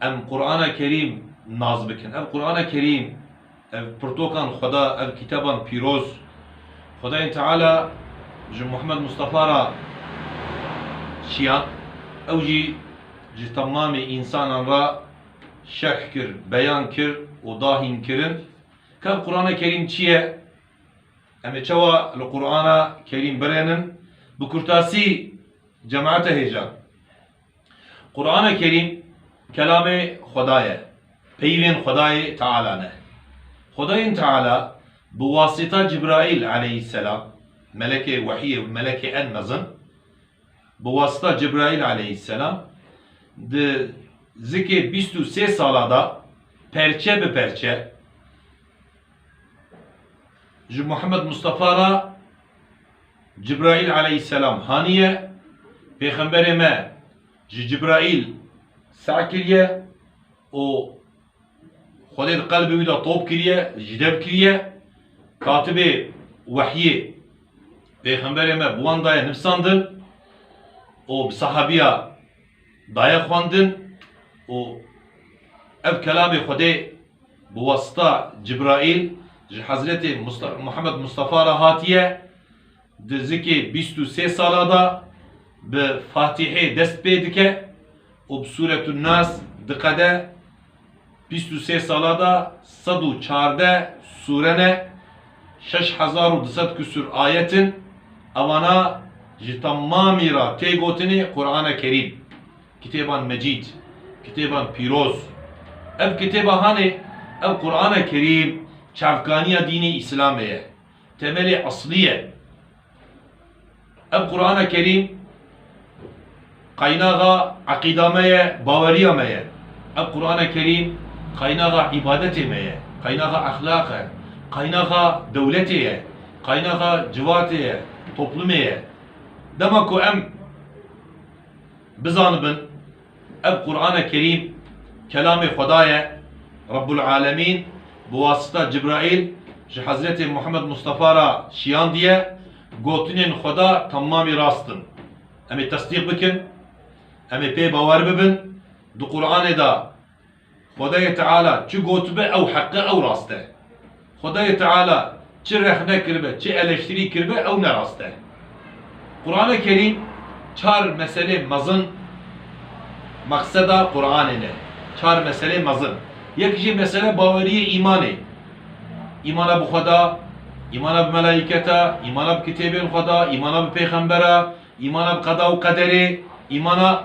Em Qur'ana Kerîm nas bikin. Ev Qur'ana Kerîm, ev pirtokan Xweda, ev kîteban pîroz, Xwedayê Teala ji Muhammed Mustafa ra çiya, ew jî ji temamê însanan ra şerh kir, beyan kir û da hînkirin ke ev Qur'ana Kerîm çi ye, em ê çawa li Qur'ana Kerîm birênin. Bi kurtasî. Cemaate hêjan. Qur'ane Kerîm kelamê Xweda ye, peyivên Xwedayê Teala ne. Xwedayên Teala bi wasita Cibraîl aleyhîsselam, melekê wehîyê û melekê en mezin, bi wasita Cibraîl aleyhîsselam di zikê bîst û sê sala da perçe bi perçe ji Muhammed Mustafa ra, Cibraîl eleyhîsselam haniye, Pêxemberê me ji Cibraîl sey kiriye û Xwedê di qelbê wî de top kiriye, jidev kiriye. Katibê wehyê Pêxemberê me bi wan daye nivîsandin û bi sehabiya daye xwendin û ev kelamê Xwedê bi wasita Cibraîl ji Hezretê Muhemed Mustafa re hatiye, di zikê bîst û sê sala de bi Fatîhê dest pê dike û bi Sûretun Nas diqede, bîst û sê sala de sed û çardeh sûre ne, şeş hezar û du sed kusûr ayet in, evana ji temamî re tê gotinê Qur'ane Kerîm. Kitêban Mecîd, Kitêban Pîroz, Ev kitêba hanê, ev Qur'ana Kerîm çavkaniya dînê Îslamê ye, temelê eslî ye. Ev Qur'ana Kerîm qaynaxa eqîda me ye, baweriya me ye. Ev Qur'ana Kerîm qaynaxa îbadetê me ye, qaynaxa exlaq e, qaynaxa dewletê ye, qaynaxa civatê ye, toplumê ye. Dema ku em. Bizanibin, ev Qur'ane Kerîm kelamê Xweda ye, Rabbul Alemîn bi wasita Cibraîl ji Hezretê Muhammed Mustafa re şiyandiye, gotinên Xweda temamî rast in. Em ê tesdîq bikin, em ê pê bawer bibin, di Qur'anê de, Xwedayê Teala çi gotibe ew heq e, ew rast e. Xwedayê Teala çi rexne kiribe, çi eleştirî kiribe ew nerast e. Qurane Kerîm çar meselê mezin maqseda Quranê ne. Çar meselê mezin. Yek jî mesele baweriyê îmanê. Îmana bi Xweda, îmana bi melaîketa, îmana bi kitêbên Xweda, îmana bi pêxembera, îmana bi qeda û qederê, îmana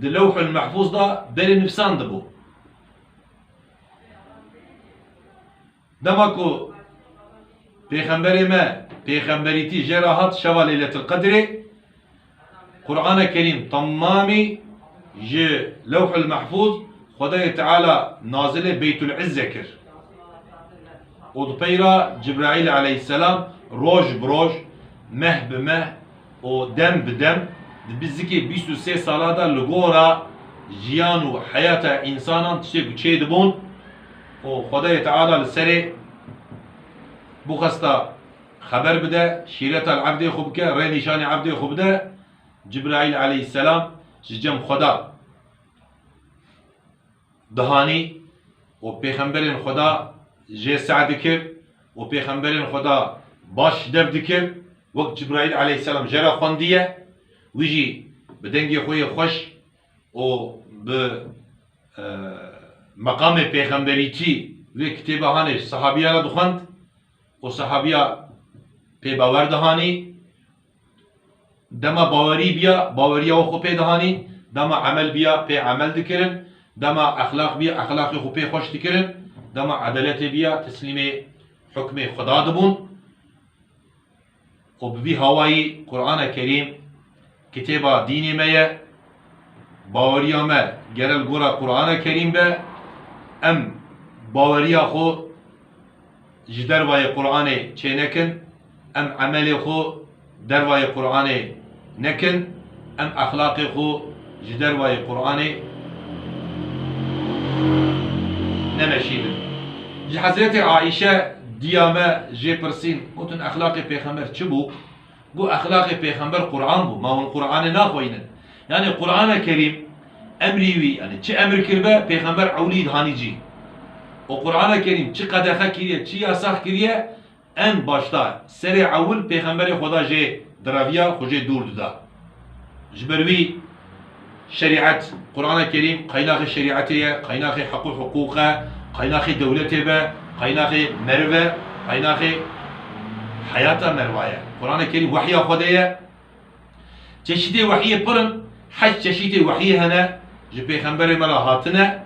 Di lewhul mehfûz de berê nivîsandibû. Dema ku Pêxemberê me pêxemberîtî jê re hat şeva Leyletil Qedrê, Qur'ane Kerîm temamî ji lewhul mehfûz Xwedayê Teala nazilê Beytul Îzze kir û di pey re Cibraîl eleyhîsselam roj bi roj, meh bi meh, û dem bi dem di bizikê bîst û sê sala de li gora jiyan û heyata însanan tiştê ku çê dibûn û Xwedayê Teala li serê bûxesta xeber bide, şîreta li ebdê xwe bike, rê nîşanê ebdê xwe bide, Cibraîl eleyhîsselam ji cem Xweda. dihanî û pêxemberên Xweda jê seh dikir û pêxemberên Xweda baş dev dikir wek Cibraîl aleyhîsselam je re xwendiye, wî jî bi dengê xwe yê xweş û bi meqamê pêxemberîtî vê kitêbe hanê sehabîya re dixwend û sehabîya pê bawer dihanî. Dema bawerî bîya, baweriya we xwe pê dihanîn, dema emel bîya, pê emel dikirin, dema exlaq bîya, exlaqê xwe pê xweş dikirin, dema edeletê bîya, teslîmê hukmê Xweda dibûn û bi vî hawayî Qur'ana Kerîm kitêba dînê me ye, baweriya me gere li gora Qur'ana Kerîm be, em baweriya xwe ji dervayê Qur'anê çênekin. Em emelê xwe dervayê Quranê nekin, em exlaqê xwe ji dervayê Quranê nemeşînin. Ji Hezretê Aîşe diya me jê pirsîn, gotin exlaqê pêxember çi bû? Got exlaqê pêxember Quran bû, ma hûn Quranê naxweynin. Yanî Qurana Kerîm emrî wî, yanî çi emir kiribe pêxember ewlî hanî cî. Û Qurana Kerîm çi qedexe kiriye, çi yasax kiriye Em başdar serê ewil pêxemberê Xweda jê diraviya xwe jê dûr dida. Ji ber wî şerîet, Qurana Kerîm qaynaxê şerîetê ye, qaynaxê heq û hiqûq e, qaynaxê dewletê be, qaynaxê meriv e, qaynaxê heyata meriva ye. Qurana Kerîm wehya Xwedê ye. Çeşîtê wehiyê pir in, heşt çeşîtê wehiyê hene, ji pêxemberê me re hatine,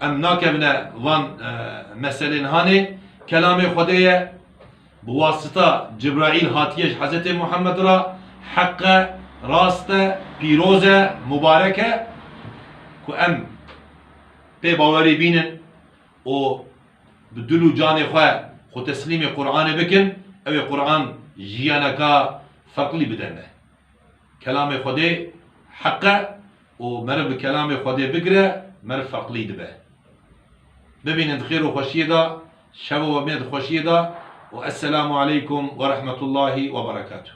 em nakevine van meselên hanê, kelamê Xwedê ye, bi wasita Cibraîl hatiye ji Hezretê Muhammed re, heq e, rast e, pîroz e, mubarek e, ku em pê bawerî bînin. û bi dil û canê xwe xwe teslîmê Quranê bikin, ew ê Quran jiyaneka ferqlî bide me. Kelamê Xwedê heq e û meriv bi kelamê Xwedê bigire meriv ferqlî dibe. Bimînin di xêr û xweşiyê de, şev û wemîne di xweşiyê de û Esselamu Aleykum Werehmetullahî Weberekatuh.